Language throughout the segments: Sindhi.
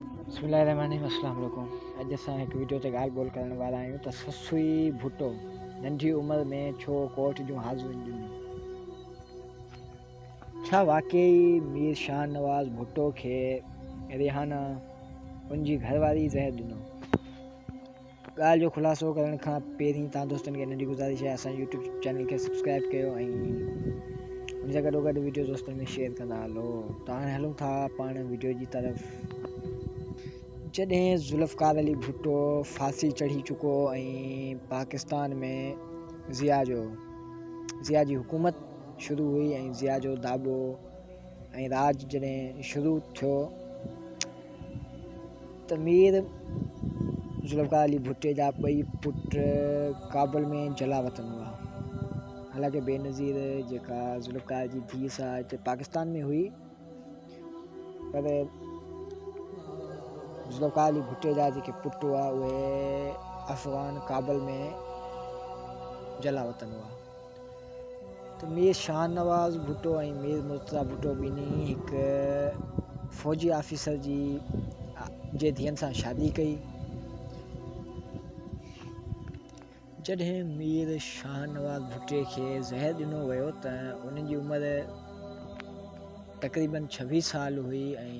بسم الله الرحمن الرحيم السلام عليڪم اڄ اسان هڪ ويڊيو تي ڳالهه ٻولهه ڪرڻ وارا آهيون ته سسوئي ڀٽو ننڍي عمر ۾ ڇو ڪورٽ جون حاضريون ڏنيون ڇا واقعي مير شاهه نواز ڀٽو کي ريحانا ان جي گهر واري زهر ڏنو ڳالهه جو خلاصو ڪرڻ کان پهرين توهان دوستن کي ننڍي گذارش آهي اسان جي يوٽيوب چينل کي سبسڪرائب ڪيو ۽ ان سان گڏو گڏ ويڊيو دوستن ۾ شيئر ڪندا هلو ته هاڻي هلون ٿا پاڻ ويڊيو جي طرف جڏهن ذوالفقار علي ڀٽو ڦاسي چڙهي چڪو ۽ پاڪستان ۾ ضياء جو ضياء جي حڪومت شروع هئي ۽ ضياء جو داٻو ۽ راج جڏهن شروع ٿيو ته مير ذوالفقار علي ڀٽي جا ٻئي پٽ ڪابل ۾ جلا وطن هئا. حالانڪه بينظير جيڪا ذوالفقار جي ڌيء سان هتي پاڪستان ۾ هئي پر ذوالفقار علي ڀٽي جا جيڪي پٽ هئا اهي افغان ڪابل ۾ جلا وطن هئا ته مير شاهنواز ڀٽو ۽ مير مرتضيٰ ڀٽو ٻنهي هڪ فوجي آفيسر جي جي ڌين سان شادي ڪئي جڏهن مير شاهنواز ڀٽي کي زهر ڏنو ويو ته ان جي عمر تقريبن ڇويهه سال هئي ۽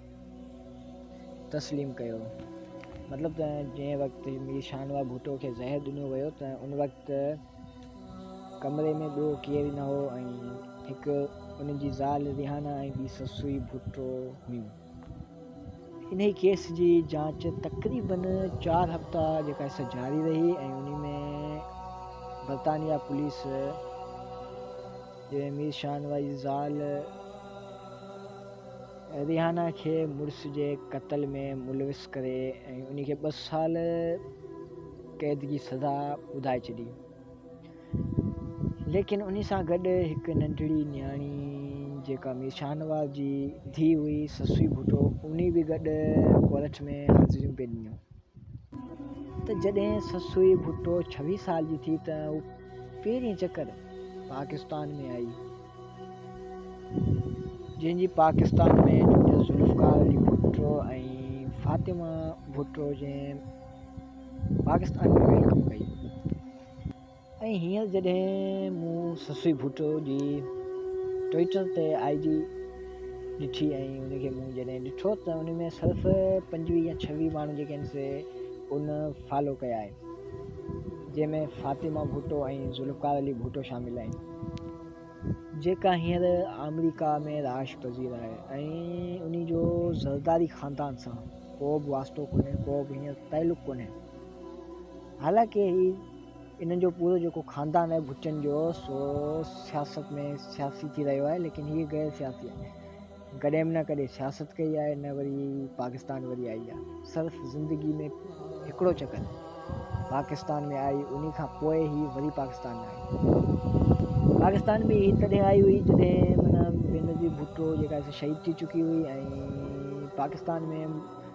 تسليم ڪيو. مطلب ته جنهن وقت مير شاهنواز ڀٽو کي زهر ڏنو ويو ته ان وقت ڪمري ۾ ٻيو ڪير ئي نه هو ۽ هڪ ان جي زال ريحانه ۽ ٻي سسئي ڀٽو هيون. انهي ڪيس جي جاچ تقريبن چار هفتا جيڪا سا جاري رهي ۽ انهي ۾ برطانيا پوليس جي مير شاهنواز جي زال، ريحانه کي مڙس جي قتل ۾ ملوث ڪري ان کي ٻه سال قيد جي سزا ٻڌائي ڇڏي. ليڪن ان سان گڏ هڪ ننڍڙي نياڻي جيڪا مير شاهنواز جي ڌيء هئي سسوي ڀٽو انهي به گڏ ڪورٽ ۾ حاضريون پئي ڏنيون. ته جڏهن سسوئي ڀٽو ڇويهه سال جي ٿي ته هو پهرين چڪر پاڪستان ۾ آئي، جنهن جي پاڪستان ۾ جوڙي ذوالفقار علي ڀٽو ۽ فاطمه ڀٽو جنهن پاڪستان ۾ ويلڪم ڪئي. ۽ هينئر جڏهن مون سسئي ڀٽو جي ٽوئيٽر تي آئي ڊي ڏٺي ۽ ان کي مون جڏهن ڏٺو ته ان ۾ صرف پنجويهه يا ڇويهه ماڻهو جيڪي آهن سي ان فالو ڪيا آهن جنهن ۾ فاطمه ڀٽو ۽ ذوالفقار علي ڀٽو شامل آهن جيڪا هينئر آمريڪا ۾ رهائش پذير آهي ۽ ان جو زرداري خاندان سان ڪو به واسطو ڪونهي ڪو به هينئر تعلق ڪونهي حالانڪه هي انهن جو پورو جيڪو خاندان آهي ڀٽن جو سو سياست ۾ سياسي ٿي رهيو آهي ليڪن هي غير سياسي آهي ڪڏهن به نه ڪڏهن سياست ڪئي آهي نه وري پاڪستان وري آئي آهي صرف زندگي ۾ هڪڙو چڪر پاڪستان ۾ آئي انهي کان پوء هي وري پاڪستان آئي پاڪستان ۾ هي تڏهن آئي هئي جڏهن منا بينظير ڀٽو جيڪا شهيد ٿي چڪي هئي ۽ پاڪستان ۾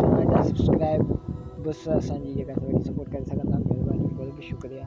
چينل جا سبسڪرائب بس اسان جي جيڪا سپورٽ ڪري سگهندا مهرباني ٿي ڪري شڪريا.